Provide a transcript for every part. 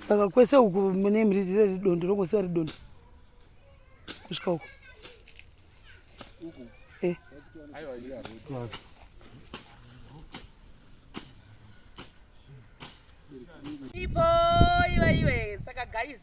saka kwese uku mune mhiriri riri dondo rongosiva ri dondo kusvika uku Eh. Ibo iwe iwe saka guys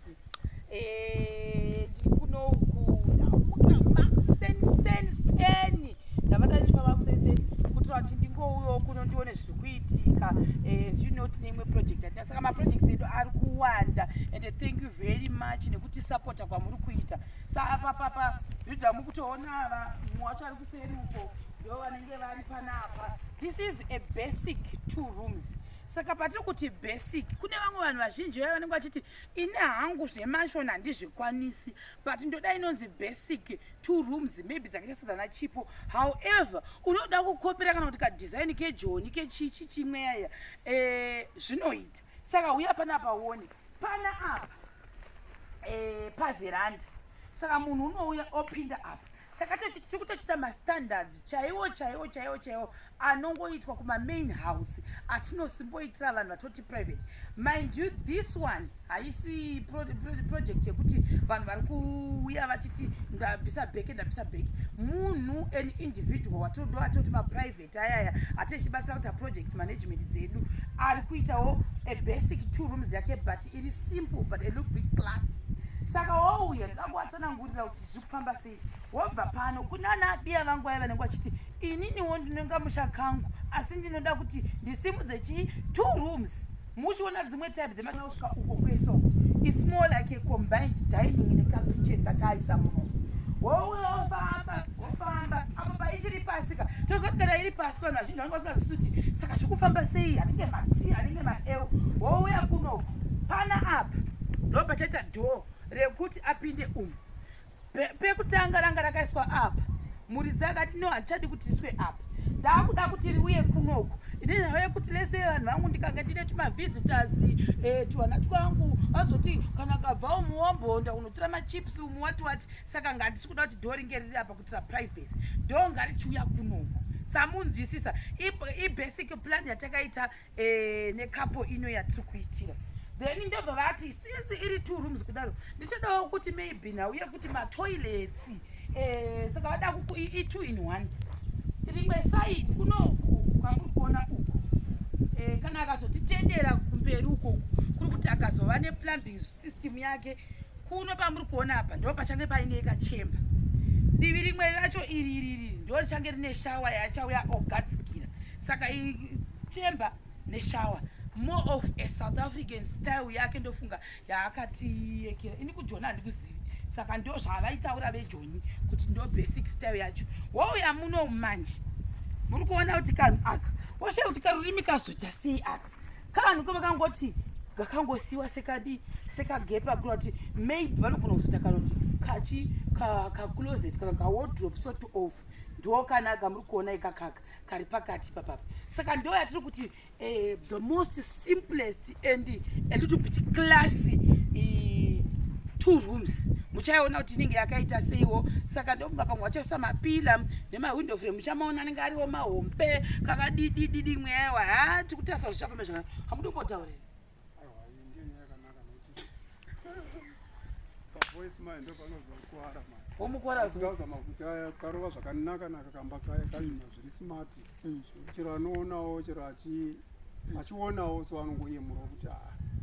eh kuno kuda muka maxen sen sen ndabata ndi baba maxen sen kuti vati ndingouyo kuno ndione zviri kuitika eh you know tine imwe project yatina saka ma projects edu ari kuwanda and thank you very much nekuti supporta kwamuri kuita sa apa papa yuda mukutoona ava mumwe wacho ari kuseri uko ndo vanenge vari panapa this is a basic two rooms saka patiri kuti basic kune vamwe vanhu vazhinji vaya vanenge vachiti ini hangu zvemashon handizvikwanisi but ndoda inonzi basic two rooms maybe dzakaita sedzana chipo however unoda kukopera kana kuti kadesign kejoni kechichi chimweya eh, zvinoita saka huya panapa uone pana apa eh, paveranda saka munhu unouya opinda apa takatochiti tiri kutochita mastandards chaiwo chaiwo chaiwo chaiwo anongoitwa kumamain house atinosimboitira vanhu vatoti private mind you this one haisi project yekuti vanhu vari kuuya vachiti ndabvisa bheke ndabvisa bheke munhu an individual watodo atoti maprivate maproject ayaya ati ichibatsira kuti aproject management dzedu ari kuitawo a basic two rooms yake but iri simple but a look big plus saka wouya ndoda kuwatsanangurira kuti zviri kufamba sei wobva pano kunana abiya vangu aye vanenge vachiti ininiwo ndinonga musha kangu asi ndinoda kuti ndisimudze chii two rooms muchiona dzimwe type dzemausva uko kweso is more like a combined dining nekakitchen kataaisa muno wofamba wofamba apo paichiri pasi ka tozoti kana iri pasi vanhu vazhinji vanenge vasingazivi kuti saka zvikufamba sei anenge mati anenge maeu wouya kuno pana apa ndo pachaita dhoo rekuti apinde umu pekutanga ranga rakaiswa apa muridzi akati no handichadi kuti iswe apa ndaakuda kuti riuye kunoku ine nhau yekuti lese vanhu vangu ndikange ndine tumavisitors eh, tuvana twangu vazoti kana kabvawo muwombonda unotora machips umu wati wati saka ngatisi kuda kuti doo ringe riri apa kuitira privacy doo ngarichiuya kunoku samunzwisisa ibasic plan yatakaita eh, nekapo ino yatiri kuitira then ndobva vati since iri two rooms kudaro ndichodawo kuti maybe nhau yekuti matoilets eh, saka vada i2 in one rimwe side kunoku kwamuri kuona uku eh, kana akazotitendera kumberi uko kuri kuti akazova neplumbings system yake kuno pamuri kuona apa ndo pachange paine kachemba divi rimwe racho iri iri iri ndo richange rine shawa yachauya ogadzikira saka chemba neshawa more of a south african style yake ndofunga yaakatiyekera ini kujona handikuzivi saka ndo zvavaitaura vejoni kuti ndo basic style yacho wouya muno manje muri kuona kuti kanhu aka woshe kuti karurimi kazoita sei aka kavanhu kavakangoti kakangosiwa sekadi sekagepa kura kuti maybe vanogona kuzoita kana kuti kachi kacloset kana kawardrop sort of ndo kanaka muri kuona ikakaka kari pakati papapa saka ndo yatiri kuti eh, the most simplest and a little bit classy two rooms muchaiona kuti inenge yakaita seiwo saka ndokunga pamwe vachaisa mapila nemahwindo frame muchamaona anenge ariwo mahombe kakadidididi mweya iwa ha tikutarisa kuti zvichafamba zvakanaka hamuti kumbotaurira womukorakarova zvakanaka naka kamba kaya kaima zviri smart mm. chero anoonawo chero achionawo so anongoyemura kuti ha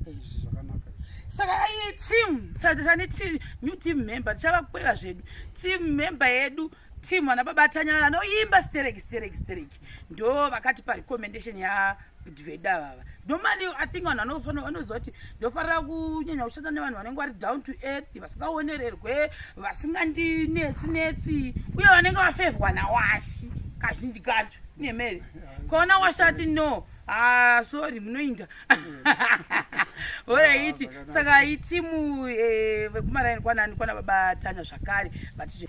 ah, izvi zvakanaka saka ayi team tane new team member tichavakweva zvedu team member yedu team vana baba tanya vanoimba sterek sterek sterek ndo vakati parecommendation yabudveda vava normally i think vanhu vanofanira vanoziva kuti ndofanira kunyanya kushanda nevanhu vanenge vari down to earth vasingaonererwe vasingandinetsi netsi uye vanenge vafevhwa nawashi kazhinji kacho nemere kona washati no ah, sorry munoinda horaiti saka itimu eh, vekumaraini kwanani kwana baba tanya zvakare vaticho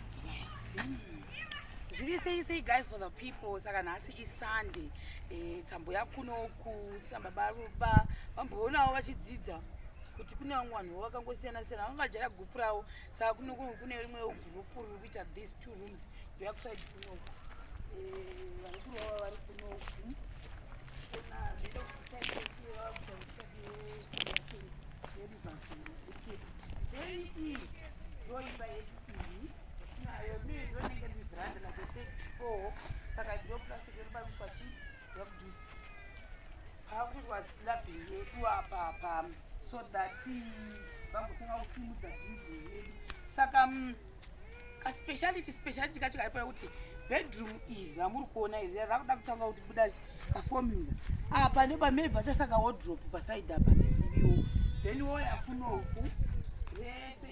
zviri sei sei guys for the people saka nhasi isunday eh, tambo yakunoku sababa ruba vamboonawo vachidzidza kuti kune vamwe vanhu vakangosiyana siyana vanga vajara gupu ravo saka kunoku kune rimwe gurupu riri kuita these two rooms ndoyakusaidi kunoku eh, vari kurova vari kunoku Thank you. so that vagotanga kusimudza bhidhi yedu saka mm, kaspeciality speciality kacho kaipa kuti bedroom iri ramuri kuona iri rakuda kutanga kuti buda kaformula apa ah, nepamei pachasaka wodrop pasaidi apa isiviwo then woyafunoku rese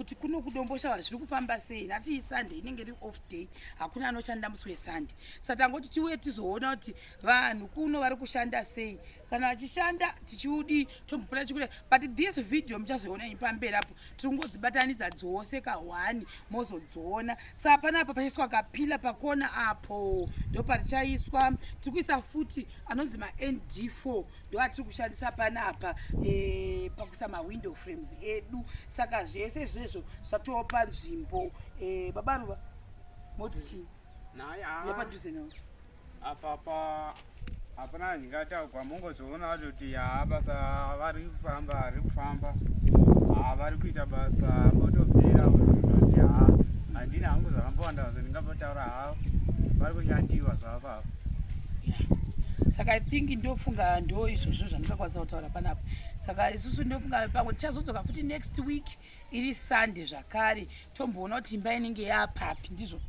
kuti kuno kudombosha vanhu zviri kufamba sei nhasi iyi sunday inenge iri off day hakuna anoshanda musi wesunday sa tangoti tiuye tizoona kuti vanhu kuno vari kushanda sei kana vachishanda tichiudi tombopota chikule but this video muchazoona ini pamberi apo tiri kungodzibatanidza dzose kahwani mozodziona sa hapana apa pachaiswa kapila pakona apo ndo parichaiswa tiri kuisa futi anonzi mand4 ndoatiri kushandisa panapa e, pakuisa mawindow frames edu saka zvese izvezvo zvatova panzvimbo e, baba ruva moti chii nepadhuze navo apapa hapana andingataugwa mongozoona vacho kuti haa basa vari kufamba ari kufamba haa vari kuita basa votopera vototi haa handina hangu zvakambowanda zvo ndingapotaura haa vari kunyatiwa zvapa saka i think ndofunga ndo izvozvo zvandingakwanisa kutaura panapa saka isusu ndofunga pamwe tichazodzoka futi next week iri sunday zvakare tomboona kuti imba inenge yapapi ndizvo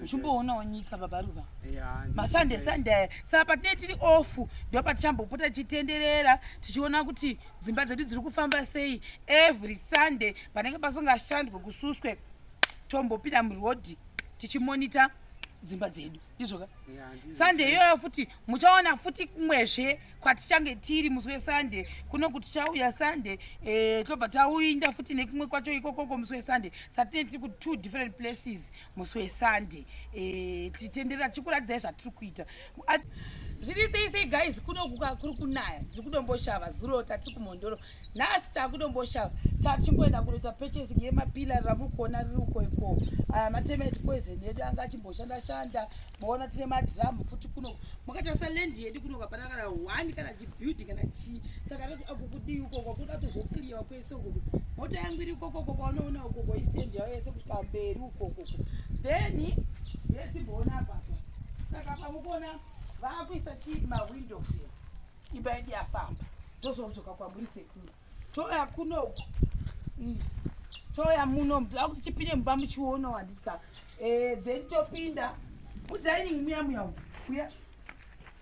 uchimboonawo nyika babaruva masunday sunday saka patinee tiri off ndo patichambopota tichitenderera tichiona kuti dzimba dzedu dziri kufamba sei every sunday panenge pasingashandwe kususwe tombopinda murodhi tichimonita dzimba dzedu ndizvoka sunday iyoyo futi muchaona futi kumwezve kwatichange tiri musi wesunday kuno kuti tichauya sunday eh, tobva tauinda futi nekumwe kwacho ikokoko musi wesunday satine tiri ku two different places musi wesunday eh, tichitenderera tichikuradzai zvatiri kuita zviri sei sei guys kuno kuri kunaya tiri kudomboshava zuro tatiri kumhondoro nhasi takudomboshava tachingoenda kunoita purchasing yemapila ramukuona riri uko iko aya mateme echipoison yedu anga achimboshanda shanda maona tine madhiramu futi kuno makatarisa land yedu kuno kapana kana one kana chibuilding kana chii saka tati akukudii uko uko kuda tozokliwa kwese ukoko mota yangu iri ukoko uko kwaunoona ukoko istendi yavo yese kusvika mberi ukoko uko then yetimboona apapa saka pamukuona vakuisa chii mawindow fee imba yedu yafamba tozodzoka kwamuri sekuru toya kuno uku toya muno mdaa kuti tipinde mumba muchiono handisa eh, then topinda kudining muya muya uya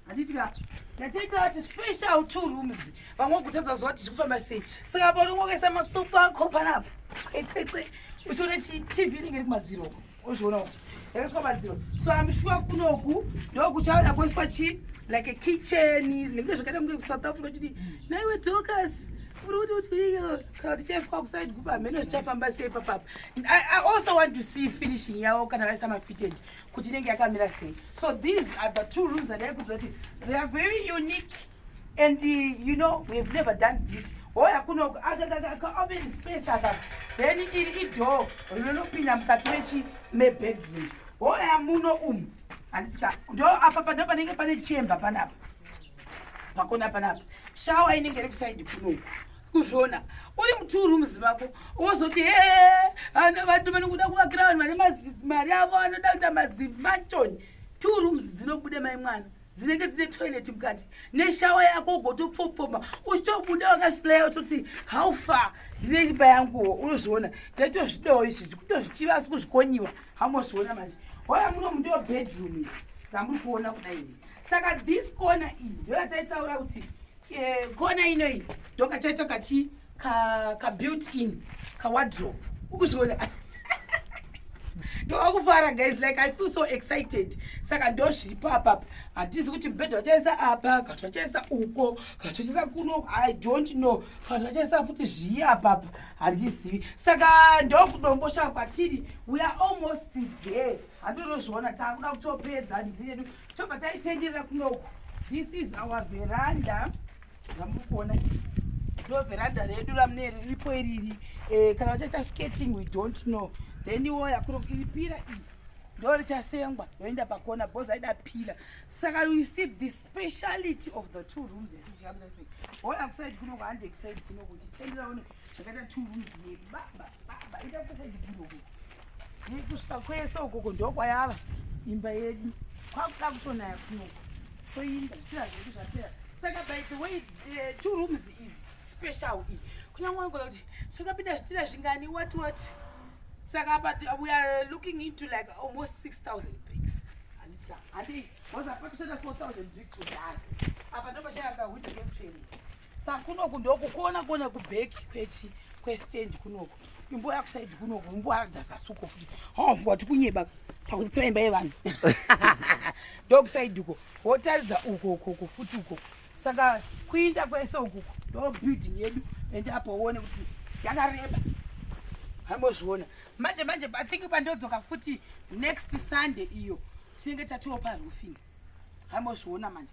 handitika yatiita vati special two rooms vamwe vagutadza zuva kuti zvikufamba sei saka paunongokaisa masofa akho panapa kwetete uchiona chitv inenge iri kumadziro uko Ozviona uku. Yakaiswa madziro. So I'm sure kunoku ndokuchauya kuiswa chi like a kitchen nekuti zvakaita kunge kuSouth Africa chiti naiwe Dorcas uri kuti kuti iyo kana tichaiswa kuside group hameno zvichafamba sei papapa. I, I also want to see finishing yawo kana vaisa mafitted kuti inenge yakamira sei. So these are the two rooms that I could they are very unique and you know we have never done this hoya kuno akaopen space aka then iri idoo rinopinda mukati mechi mebedroom hoya muno umu handitika ndo apa pano panenge pane chemba panapa pakona panapa shawa inenge iri kusaidi kunoku kuzviona uri mutuu rooms vako wozoti he vanhu vanokuda kuvakira vanhu vane mari avo anoda kuita mazimanchoni two rooms dzinobude mai mwana dzinenge dzine toilet mukati neshawa yako ugotopfopfoma uchitobuda wakasileya utoti how far ndine imba yanguwo unozviona ndaitozvidawo izvi zvikutozitiva asi kuzvikonyiwa hamozviona manje hoya muno mundiwo bedroom ii zvamuri kuona kudai ii saka this corner iyi ndoyataitaura kuti eh, corner ino iyi ndokachaita kachii ka ka built in ka wardrobe ukuzviona ndovakufara guys like i feel so excited saka ndozviripo apapa hatizi kuti mubhedha vachaisa apa kati vachaisa uko kati vachaisa kuno i don't know kati vachaisa futi zviyi apapa handizivi saka ndokudomboshava kwatiri we are almost there handonozviona takuda kutopedza ndiyedu tobva taitenderera kunoku this is our veranda Ndamukona ndo veranda redu ramune riripo iriri eh, kana vachaita skating we don't know then iwo yakuro iri pira iyi ndo richasengwa yoenda pakona bhozi aida pira saka you see the speciality of the two rooms etuchiamza kuti hoya kusaidi kuno kuhande kusaidi kuno kuti tenderaone zvakaita tumbunzi baba baba ida kukaidibiroko kusvika kwese ukoko ndokwayava imba yedu kwakuda kutonaya kunoko toinda zvichira zvedu zvapera saka by the way eh, two rooms is special iyi kunyange wangona kuti zvakapinda zvichira zvingani what what saka apa we are looking into like almost six thousand bricks handiti handii was apa kushanda four thousand bricks kudhara apa ndopachayaka hwidhekekutsverei Sa kunoku ndoku kuona kuona ku back kwechi kwe stand kunoku. Imbo ya kuside kunoku imbo aradza sasuko futi. Ha mvua tikunyeba pakuti imba yevanhu. Dog side uko. Wotaridza uko uko uko futi uko. Saka kuinda kwese uko ndo building yedu ende apo uone kuti yakareba. Hambozviona. Manje manje I think pandodzoka futi next Sunday iyo tinenge tatiwo pa roofing. Hambozviona manje.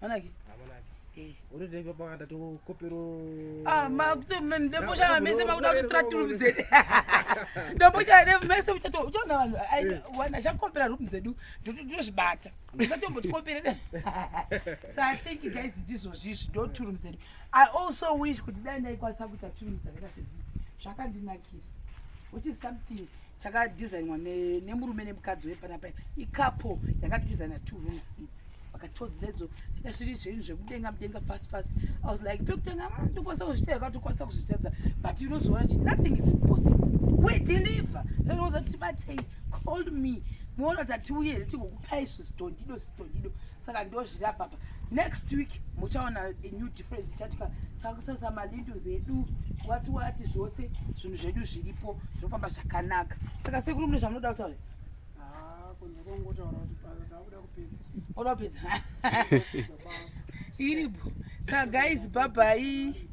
manake unotenga pakata tokopero ah makuto ndoposhaya mese makuda kutora room zedu ndoposhaya mese uchato uchaona vanhu eh. wana chakopera room zedu ndozvibata usatombotikompere so i think guys ndizvo zvizvi ndo two room zedu i also wish kuti dai ndaikwanisa kuita two room dzakaita sedzidzi zvakandinakira which is something chakadesignwa nemurume nemukadzi wepanapa ikapo yakadesigna two rooms idzi vakatodzi ledzo zviri zvenyu zvekudenga mudenga fast fast i was like pekutanga ah, ndokwanisa kuzvita yakatokwanisa kuzvitadza but unozoona kuti nothing is possible we deliver ndinoza kuti batei call me moona kuti hatiuye here tigokupai zvizitondido zvizitondido saka ndozvirapapa next week muchaona a new friends chati takusasa malindos edu wati wati zvose zvinhu zvedu zviripo zvinofamba zvakanaka saka sekuru mune zvamunoda kutaura oda kupedza iripo saka guys bhabhai